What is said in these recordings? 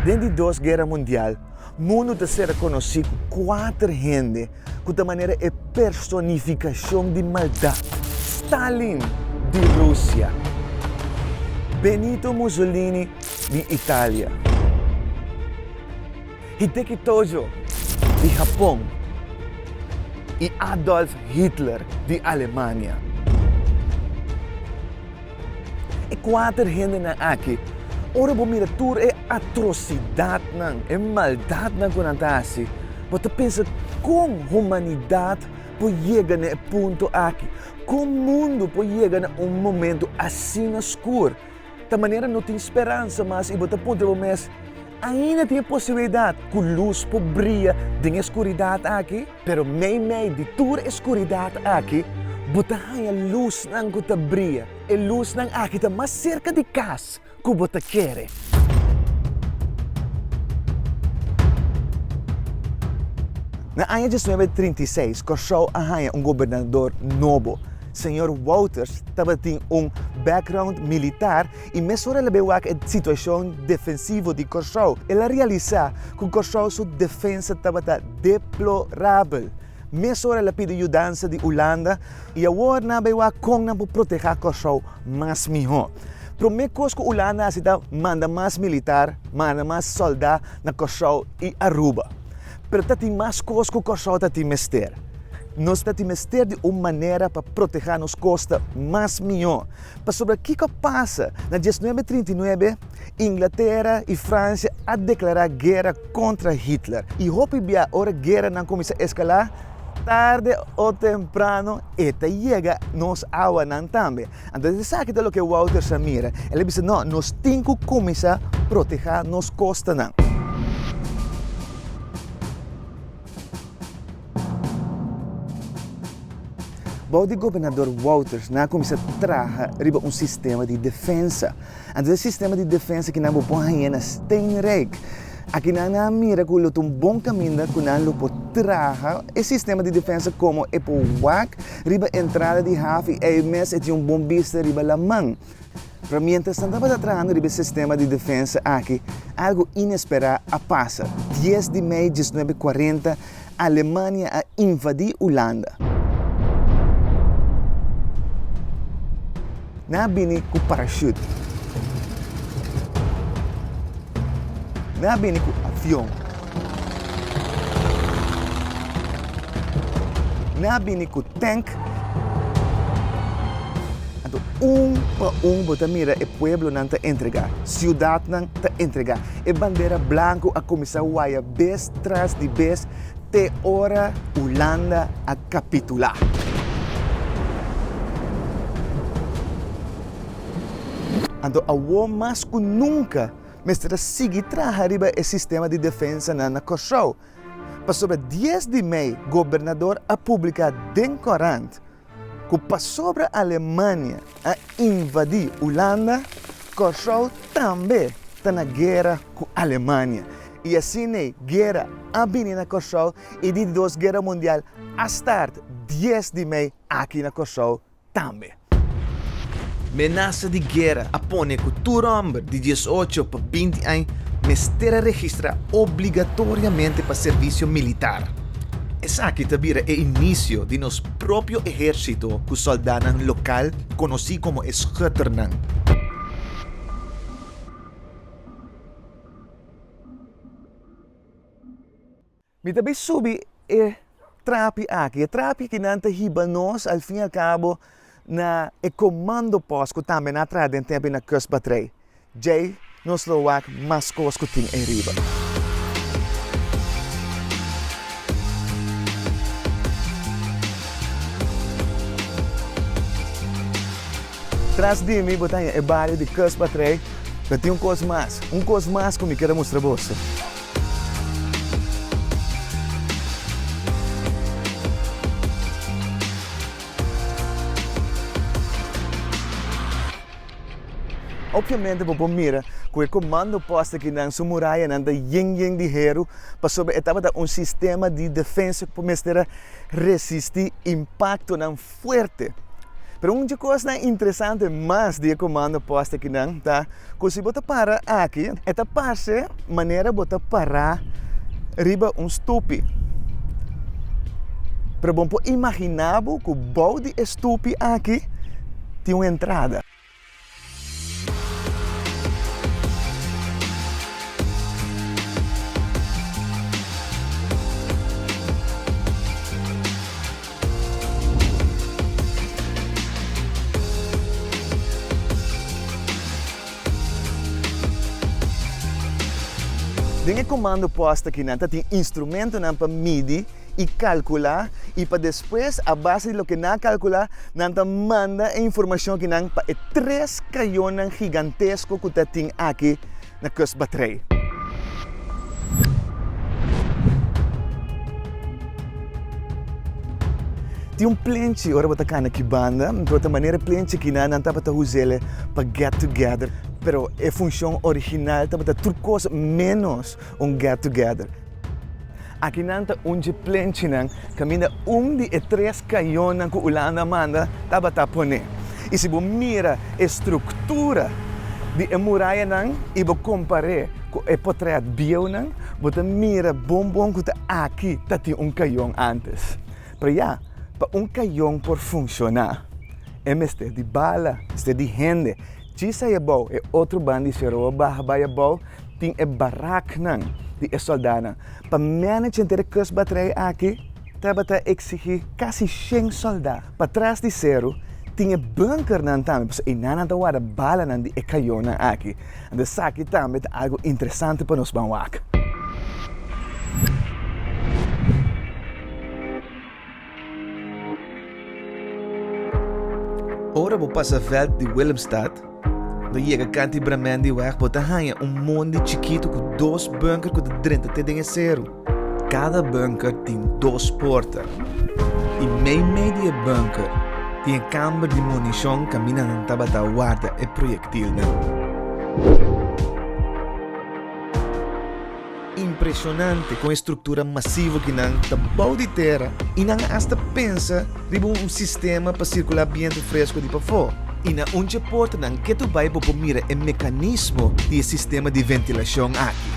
Den di Dos Guera Mundial, mundu ta ser rekonosí ku kuater hende ku ta manera e personifikashon di maldat, Stalin di Rusia, Benito Mussolini di Italia, Hideki Tojo di Hapon i Adolf Hitler di Alemania. E kuater hendenan aki, ora bo mira tur e atrosidatnan, e maldatnan ku nan ta hasi, bo ta pensa, Kon humanidat por yega na e punto aki? Kon mundu por yega na un momentu asina skur? Ta manera no tin speransa mas i bo ta puntra bo mes, Ainda tin e posibilidat ku lus por bria den e skuridat aki? Pero meimei di tur e skuridat aki, bo ta haña lusnan ku ta bria. E lusnan aki ta mas serka di kas ku bo ta kere. Na aña diesnuebe trinta i seis, Kòrsou a haña un gobernador nobo. Señor Wouters tabatin un background militar y mesora el a bai wak e situacion defensivo di Curaçao. El a realisa cu Curaçao su defensa tabata deplorabel. Mesora el a pidi yudansa di Hulanda y awor nan a bai wak con nan por proteha Curaçao mas miho. Prome cos cu Hulanda a haci ta manda mas militar, manda mas solda na Curaçao y Aruba. pero ta tin mas kos ku Kòrsou ta tin mester. Nos ta tin mester di un manera pa protehá nos kosta mas mihó. Pasobra kiko a pasa? Na dies nuebe trinta i nuebe, Inglatera i Fransia a deklará guera kontra Hitler. I hopi bia ora gueranan kuminsá eskalá, tarde o temprano e ta yega nos awanan tambe. Anto esaki ta loke Wouter sa mira. El a bisa, No, nos tin ku kuminsá protehá nos kostanan. Bou di Gobernador Wouters nan a kuminsá traha riba un sistema di defensa. Anto e sistema di defensa ki nan bo pon hañ'é na Steenrijk. Aki nan a mira ku lo ta un bon kaminda ku nan lo por traha e sistema di defensa komo e por wak riba entrada di haf i ei mes e tin un bon bista riba laman. Pero mientras nan tabata trahando riba e sistema di defensa aki, algu inesperá a pasa. Dies di mei diesnuebe kuarenta, Alemania a invadí Ulanda. Nan a bini ku parashut. Nan a bini ku avion. Nan a bini ku tank. Anto un pa un bo ta mira e pueblonan ta entregá, siudatnan ta entregá. E bandera blanku a kuminsá waya bes tras di bes te ora Hulanda a kapitulá. Anto awó mas ku nunka mester a sigui traha riba e sistema di defensanan na Kòrsou. Pasobra dies di mei gobernador a publiká den kòrant, Ku pasobra Alemania a invadí Ulanda, Kòrsou tambe ta na guera ku Alemania. I asin ei, guera a bini na Kòrsou i di Dos Guera Mundial a start dies di mei aki na Kòrsou tambe. Menasa di guera a pone ku tur hòmber di dies ocho pa binti añ mester a registrá obligatoriamente pa servisio militar. Esaki ta bira e inisio di nos propio ehérsito ku sòldánan lokal konosí komo e Schutternan. Mi ta bai subi e trapi aki, e trapi ki nan ta hiba nos, al fin al kabo na e komando pos ku tambe na traha den tempu i na kust batrei. Djei nos lo wak mas kos ku tin ei riba. Tras di mi bo ta haña e bario di kust batrei, pero tin un kos mas, un kos mas ku mi ker a mustra boso. Opviamente bo por mira cu e comando poste aki nan su murayanan ta yen yen di heru pasobra e tabata un sistema di defensa cu por mester a resisti impactonan fuerte. Pero un dje cosnan interesante mas di e comando poste aki nan ta. Cu si bo ta para aki, e ta parce manera bo ta para riba un stupi. Pero bon por imagina bo cu bou di e stupi aki tin un entrada. Den e komando pòst aki nan ta tin instrumentonan pa midi i kalkulá i pa despues a base di loke nan a kalkulá nan ta manda e informashon aki nan pa e tres kayonan gigantesko ku ta tin aki na Kust Batrei. Tin un plenchi ora bo ta kana ki banda, pero ta manera e plenchi kina nan tabata usa el pa get together, pero e funshon original tabata tur kos menos un get together. Aki nan ta un dje plenchinan kaminda un di e tres kañonnan ku Ulanda manda tabata pone. I si bo mira e struktura di e murayanan i bo kompar'é ku e potrèt bieunan, bo ta mira bon bon ku ta aki ta tin un kañon ántes. Pero ya, pa un kañon por funshoná, e mester di bala, mester di hende. Djisa e bou, e otro ban di Seroa baha bai e bou tin e baraknan di e sòldánan. Pa mènech henter e kustbatrei aki tabata eksigí kasi shen sòldá. Pa tras di seru tin e bunkernan tambe, pasobra einan nan ta warda balanan di e kayonnan aki. Anto esaki tambe ta algu interesante pa nos ban wak. Ora bo pasa veld di Willemstad, lo yega kanti Bremen di wèg bo ta haña un mondi chikitu ku dos bunker ku ta drenta te den e seru. Kada bunker tin dos porta, i meimei di e bunker tin e kamber di munishon kaminda nan tabata warda e proyektilnan. Impresionante kon e struktura masivo ki nan ta bou di tera i nan a asta pensa riba un sistema pa sirkulá bientu fresku di pafó. I na un dje portanan ke tu bai bo por mira e mekanismo di e sistema di ventilashon aki.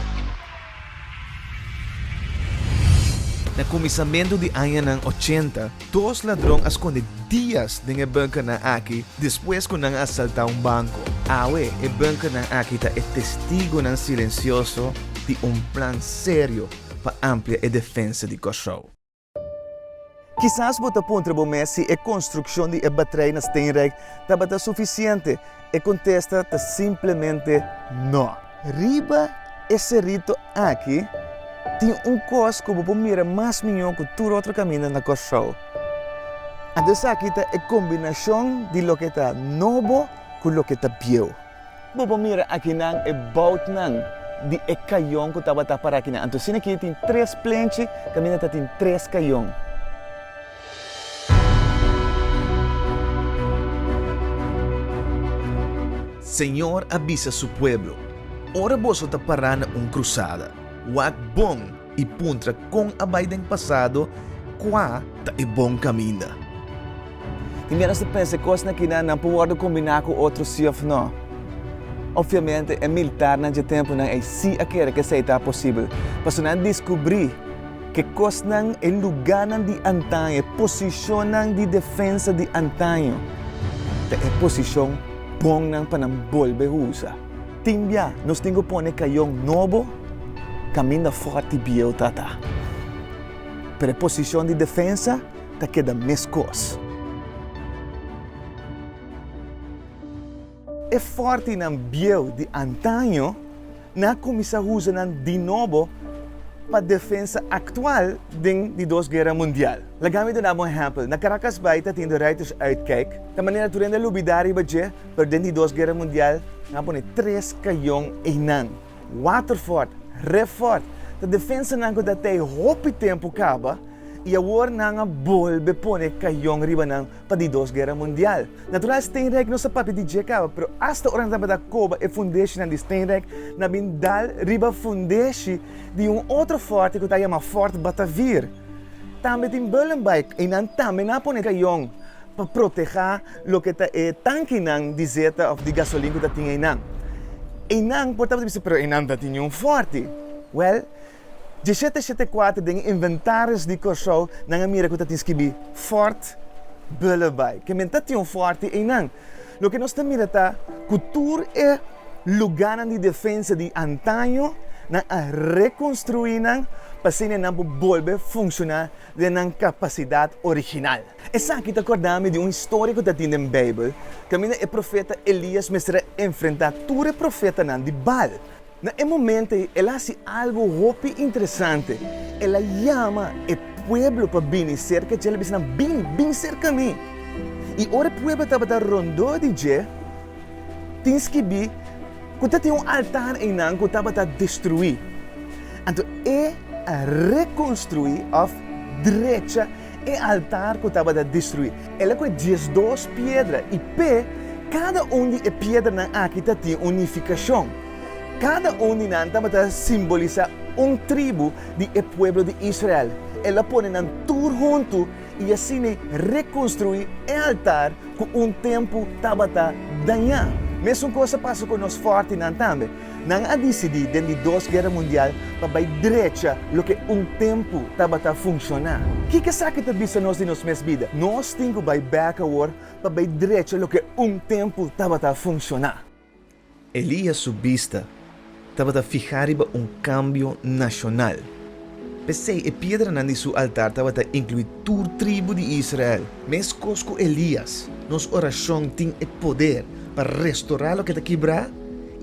Na kuminsamentu di añanan ochenta, Dos ladron a skonde dias den e bunkernan aki despues ku nan a asaltá un banko. Awe e bunkernan aki ta e testigonan silensioso di un plan serio pa amplia e defensa di Kòrsou. Kisas bo ta puntra bo mes si e konstrukshon di e batrei na Steenrijk tabata sufisiente. E contesta ta simplemente no. Riba e cerrito aki tin un cos cu bo por mira mas mijo cu tur otro camina na Corsou. Anto esaki ta e combinacion di loke ta nobo cu loke ta bieu. Bo por mira akinan e boutnan di e cayon cu tabata para akinan. Anto asina aki tin tres plenchi, caminda ta tin tres cayon. Señor a bisa Su pueblo, Ora boso ta pará na un krusada, wak bon i puntra kon a bai den pasado, kua ta e bon kaminda. I mira nos ta pensa e kosnan kinan nan por wòrdu kombiná ku otro si òf nò. Opviamente e miltarnan dje tempunan ei si a kere ke esei ta posibel, pasobra nan diskubrí, Ke kosnan e lugánan di antaño, e posishonnan di defensa di antaño, ta e posishon bonnan pa nan bolbe usa? Tin biá nos tin ku pone kayon nobo kaminda fòrti bieu ta ta, pero e posishon di defensa ta keda meskos. E fòrtinan bieu di antaño nan a kuminsá usa nan di nobo pa defensa aktual den di Dos Guera Mundial. Laga mi duna bo un ehèmpel. Na Caracas Bay ta tin Ruiters Uitkijk, ta manera tur hende a lubidá riba dje, pero den di Dos Guera Mundial nan a pone tres kayon einan. Waterfort, Refort, ta defensanan ku ta ta ei hopi tempu kaba i awor nan a bolbe pone kayon riba nan. pa di Dos Guera Mundial. Natural Steenrijk no sapati di dje kaba, pero asta ora nan tabata koba e fundeshinan di Steenrijk, nan bin dal riba fundeshi di un otro fòrte ku ta yama Fort Batavir. Tambe tin Bullenbuyck i nan tambe nan a pone kayon pa protehá loke ta e tankinan di zeta òf di gasolin ku ta tin einan. Einan por tabata bisa, pero einan ta tin un fòrte. Wèl, Dje shete shete kuater den e inventaris di Kòrsou nan a mira ku ta tin skibi Fort Billabay. Ke men ta tin un fòrte einan? Loke nos ta mira ta ku tur e lugánan di defensa di antaño nan a rekonstruí nan pa asina e nan por bolbe funshoná den nan kapasidat original. Esaki ta kòrda mi di un historia ku ta tin den Beibel kaminda e profeta Elías mester a enfrentá tur e profetanan di Baal. Na e momento ei el a hasi algu hopi interesante. El a yama e pueblo pa bini serka dje, el a bisa nan, Bin, bin serka mi. I ora e pueblo tabata rondó di dje, tin skibí ku ta tin un altar einan ku tabata destruí. Anto e a rekonstruí òf drecha. e altar ku tabata destruí. El a kohe diesdos piedra i p'e kada un di e piedranan aki ta tin un nifikashon. Kada un di nan tabata simbolisá un tribu di e pueblo di Israel. El a pone nan tur huntu i asina rekonstruí e altar ku un tempu tabata dañá. Mesun kos a pasa ku nos fòrtinan tambe. Nan a disidí den di Dos Guera Mundial pa bai drecha loke un tempu tabata funshoná. Kiko esaki ta bisa nos di nos mes bida? Nos tin ku bai bèk awor pa bai drecha loke un tempu tabata funshoná. Elias su bista tabata fihá riba un kambio nashonal. P'esei e piedranan di su altar tabata inkluí tur tribu di Israel. Meskos ku Elías, nos orashon tin e poder pa restorá loke ta kibrá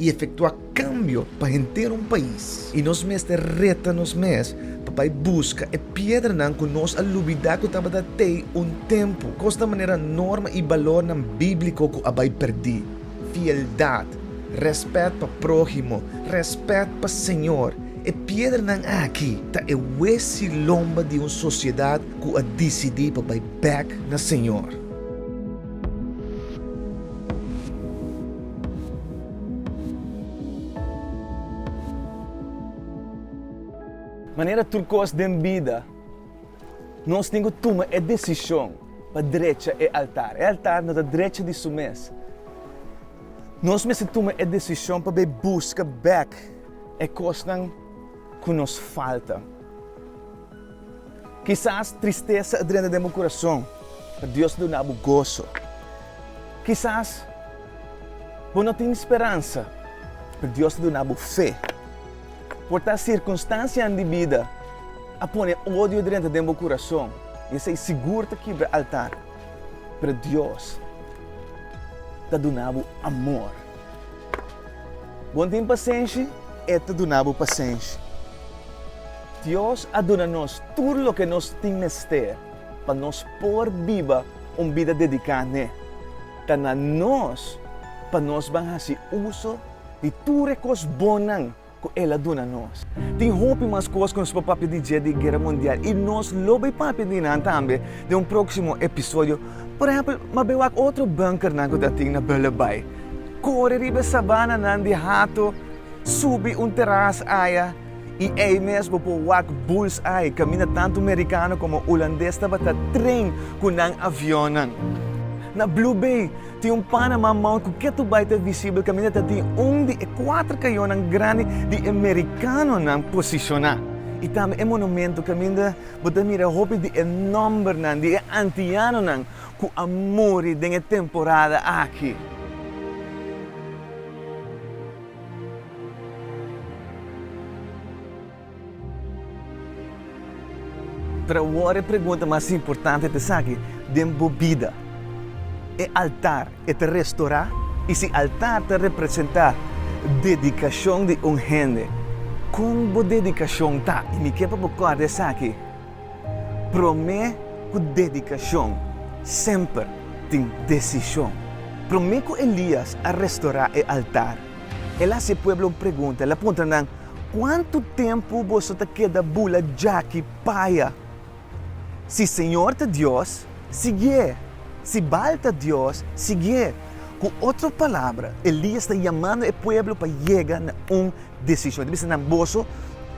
i efektuá kambio pa henter un pais. I nos mester reta nos mes pa bai buska e piedranan ku nos a lubidá ku tabata tei un tempu. Kos ta manera norma i balornan bíbliko ku a bai pèrdí? fieldad, respet pa prohimo, respet pa Señor. E piedranan aki ta e wesi lomba di un sociedad cu a dicidi pa bay bek na Señor. Manera tur cos den bida. Nos tin ku tuma e desishon pa drecha e altar. E altar no ta drecha di su mes. Nos mester tuma e desishon pa bai buska bèk e kosnan ku nos falta. Kisas tristesa a drenta den bo kurason, pero Dios a duna bo goso. Kisas bo no tin speransa, pero Dios a duna bo fe. Por ta sirkunstansianan di bida a pone odio drenta den bo kurason i esei sigur ta kibra altar. Pero Dios ta duna bo amor. Bon tin pasenshi, e ta duna bo pasenshi. Dios a duna nos tur loke nos tin mester pa nos por biba un bida dediká n'e. Ta na nos pa nos ban hasi uso di tur e kos bonnan ku El a duna nos. Tin hopi mas kos ku nos por papia di dje di Guera Mundial i nos lo bai papia di nan tambe den un próksimo episodio. Por ehèmpel, m'a bai wak otro bunkernan ku ta tin na Bullerbay. Kore riba e sabananan di hato, subi un teras aya i ei mes bo por wak Bullseye kaminda tantu merikano komo ulandes tabata tren ku nan avionnan. Na Blue Bay, Tin un Panama Mount ku ke tur bai ta visibel kaminda ta tin un di e kuater kayonan grandi di e merikanonan posishoná i tambe e monumentu kaminda bo ta mira hopi di e nòmbernan di e antianonan ku a muri den e temporada aki. Pero awor e pregunta mas importante ta esaki, Den bo bida, e altar e ta restorá? I si altar ta representá dedikashon di un hende, kon bo dedikashon ta? I mi ke pa bo kòrda esaki, Promé ku dedikashon semper tin desishon. Promé ku Elias a restorá e altar, el a hasi e pueblo un pregunta, el a puntra nan, Kuantu tempu boso ta keda bula djaki paya? Si Señor ta Dios, siguié. Si Baal ta dios, siguié. Ku otro palabra, Elias ta yamando e pueblo pa yega na un desishon. Ta bisa nan, Boso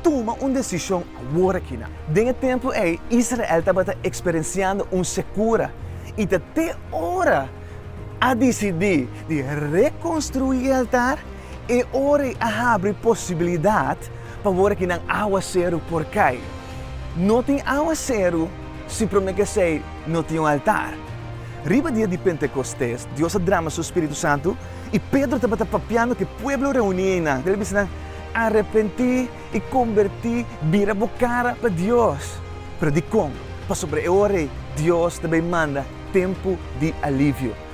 tuma un desishon aworakinan. Den e tempu ei, Israel tabata eksperensiando un sekura i ta te ora a disidí di rekonstruí e altar E ora ei a habri posibilidat pa wor aki nan awaseru por kai. No tin awaseru si promé ku esei no tin un altar. Riba dia di Pentekostés, Dios a drama Su Spiritu Santu i Pedro tabata papiando ku e pueblo reuní einan. El a bisa nan, Arepentí i kombertí, bira bo kara pa Dios. Pero dikon? Pasobra e ora ei Dios ta bai manda tempu di alivio.